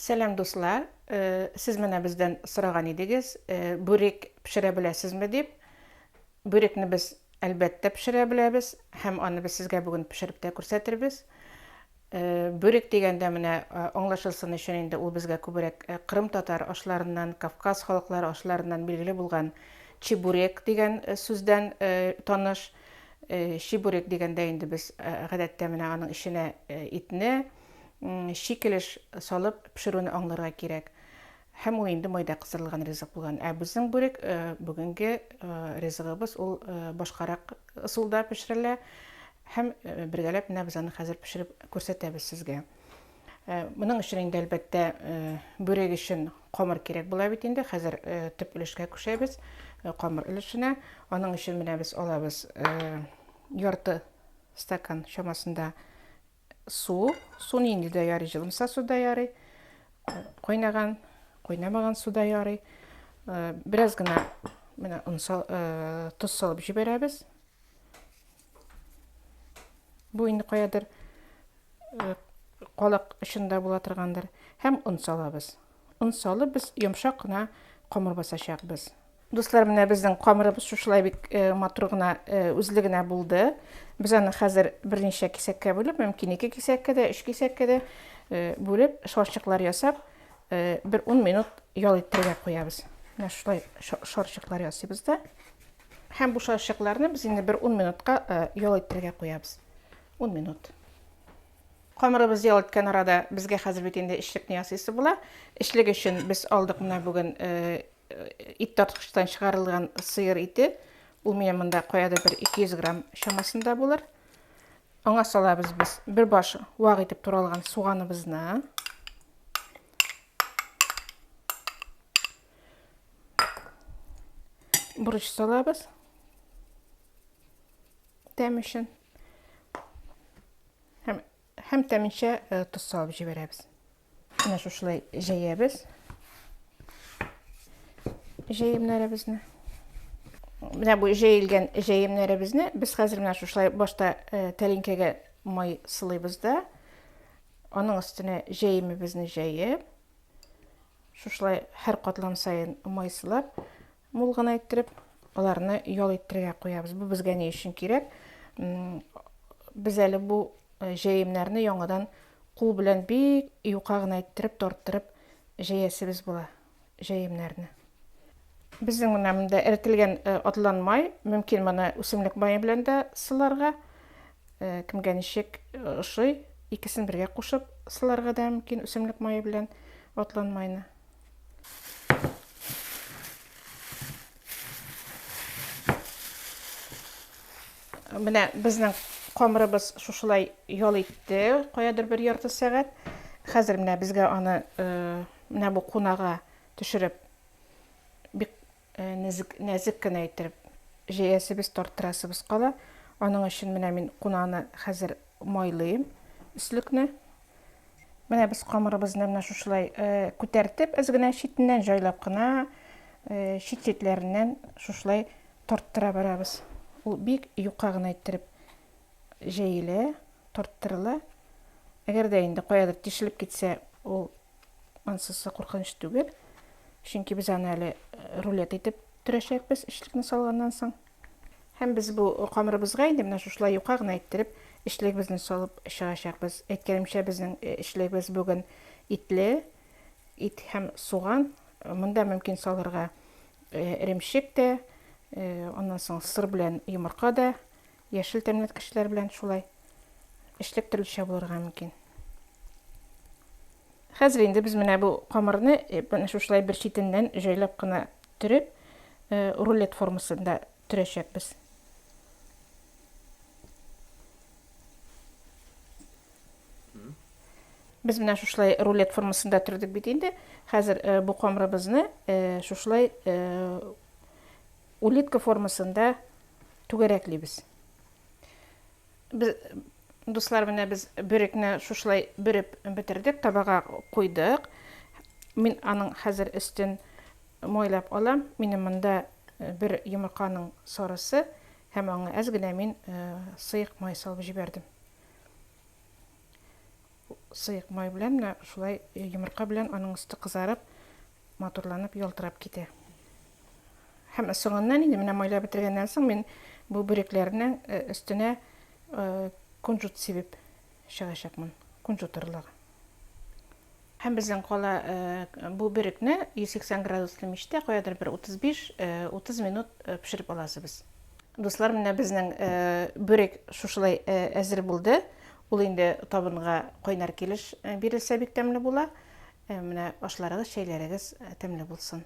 Сәлам дуслар, сез менә бездән сораган идегез, бүрек пешерә беләсезме дип. Бүрекне без әлбәттә пешерә беләбез һәм аны без сезгә бүген пешереп тә күрсәтербез. Бүрек дигәндә менә аңлашылсын өчен инде ул безгә күбрәк Кырым татар ашларыннан, Кавказ халыклары ашларыннан билгеле булган чебурек дигән сүздән таныш. Чебурек дигәндә инде без гадәттә менә аның эченә итне, шикелеш салып пешерүне аңларга кирәк. Һәм ул инде майда кыздырылган ризык булган. Ә безнең бүрек бүгенге ризыгыбыз ул башкарак ысулда пешерелә. Һәм бергәләп менә без аны хәзер пешереп күрсәтәбез сезгә. Моның өчен инде әлбәттә бүрек өчен камыр кирәк була бит инде. Хәзер төп өлешкә күчәбез, камыр өлешенә. Аның өчен менә без алабыз ярты стакан чамасында Су, су нинди дә ярый, җылымса су да ярый, кайнаган, кайнамаган су да ярый. Э, бераз гына менә он э, тоз салып җибәрәбез. Бу инде каядыр э, калак очында була торгандыр. Һәм он салабыз. Он салып без йомшак кына камыр басачакбыз. Дуслар, менә безнең камырыбыз шушылай бик матур гына үзле генә булды. Без аны хәзер берничә кисәккә бүлеп, мөмкин ике кисәккә дә, өч кисәккә дә бүлеп, шарчыклар ясап, бер ун минут ял иттерергә куябыз. Менә шулай шарчыклар ясыйбыз да. Һәм бу шарчыкларны без инде бер ун минутка ял иттерергә куябыз. Ун минут. Камырыбызны ял иткән арада, безгә хәзер бит инде эчлекне ясыйсы була. Эчлек өчен без алдык менә бүген ит тарткычтан чыгарылган сыер ите. Ул менә монда каядыр бер 200 грамм чамасында булыр. Аңа салабыз без бер баш вак итеп туралган суганыбызны. Бурыч салабыз. тәм өчен һәм, һәм тәминчә э, тоз салып җибәрәбез менә шушылай җәябез җәемнәребезне менә бу җәелгән җәемнәребезне без хәзер менә шушылай башта э, тәлинкәгә май сылыйбыз да аның өстенә җәемебезне җәеп шушылай һәр катлам сайын май сылап Мул гына иттереп, аларны ял иттерергә куябыз. Бу безгә ни өчен кирәк? Без әле бу э, җәемнәрне яңадан кул белән бик юка гына иттереп, тарттырып җәясебез була җәемнәрне. Безнең менә монда эрителгән э, атлан май, мөмкин моны үсемлек мае белән дә сыларга, э, кемгә ничек ошый, икесен бергә кушып сыларга да мөмкин үсемлек мае белән атлан майны. Менә безнең камырыбыз шушылай ял итте, каядыр бер ярты сәгать. Хәзер менә безгә аны э, менә бу кунага төшереп бик Нәзек, нәзек кенә иттереп җәясебез, тарттырасыбыз кала. Аның өчен менә мин кунаны хәзер майлыйм, өслекне. Менә без камырыбызны менә шушылай күтәртеп, әз генә читеннән җайлап кына, чит-читләреннән шушылай тарттыра барабыз. Ул бик юка гына иттереп җәелә, тарттырыла. Әгәр дә инде каядыр тишелеп китсә, ул Ансызсы куркыныч түгел. Чөнки без аны әле э, рулет итеп төрәчәкбез эчлекне салганнан соң. Һәм без бу камырыбызга инде менә шушылай юка гына иттереп эчлегебезне салып чыгачакбыз. Әйткәнемчә, безнең э, эчлегебез бүген итле, ит һәм суган. Монда мөмкин салырга эремчек тә, аннан соң сыр белән йомырка да Яшел тәнле кешеләр белән шулай эшлек төрлечә булырга мөмкин. Хәзер инде без менә бу камырны менә шушылай бер читеннән җайлап кына төреп, рулет формасында төрәчәкбез. Без менә шушылай рулет формасында төрдек бит инде. Хәзер бу камырыбызны шушылай Улитка формасында түгәрәклибез. Без дуслар менә без бөрекне шушылай бөреп бетердек, табага куйдык. Мин аның хәзер өстен мойлап алам. Минем монда э, бер йомырканың сарысы һәм аңа әз генә мин э, сыек май салып җибәрдем. Сыек май белән менә шулай йомырка белән аның өсте кызарып, матурланып, ялтырап китә. Һәм соңыннан инде менә майлап бетергәннән соң мин бу бүрекләрнең э, өстенә э, кунжут сибеп чыгачакмын. Кунжут орлыгы. Һәм безнең кала э, бу бөрекне 180 градуслы мичтә каядыр бер 35-30 минут пешереп аласыбыз. Дуслар, менә безнең бүрек шушылай әзер булды. Ул инде табынга кайнар килеш бирелсә бик тәмле була. Менә ашларыгыз, чәйләрегез тәмле булсын.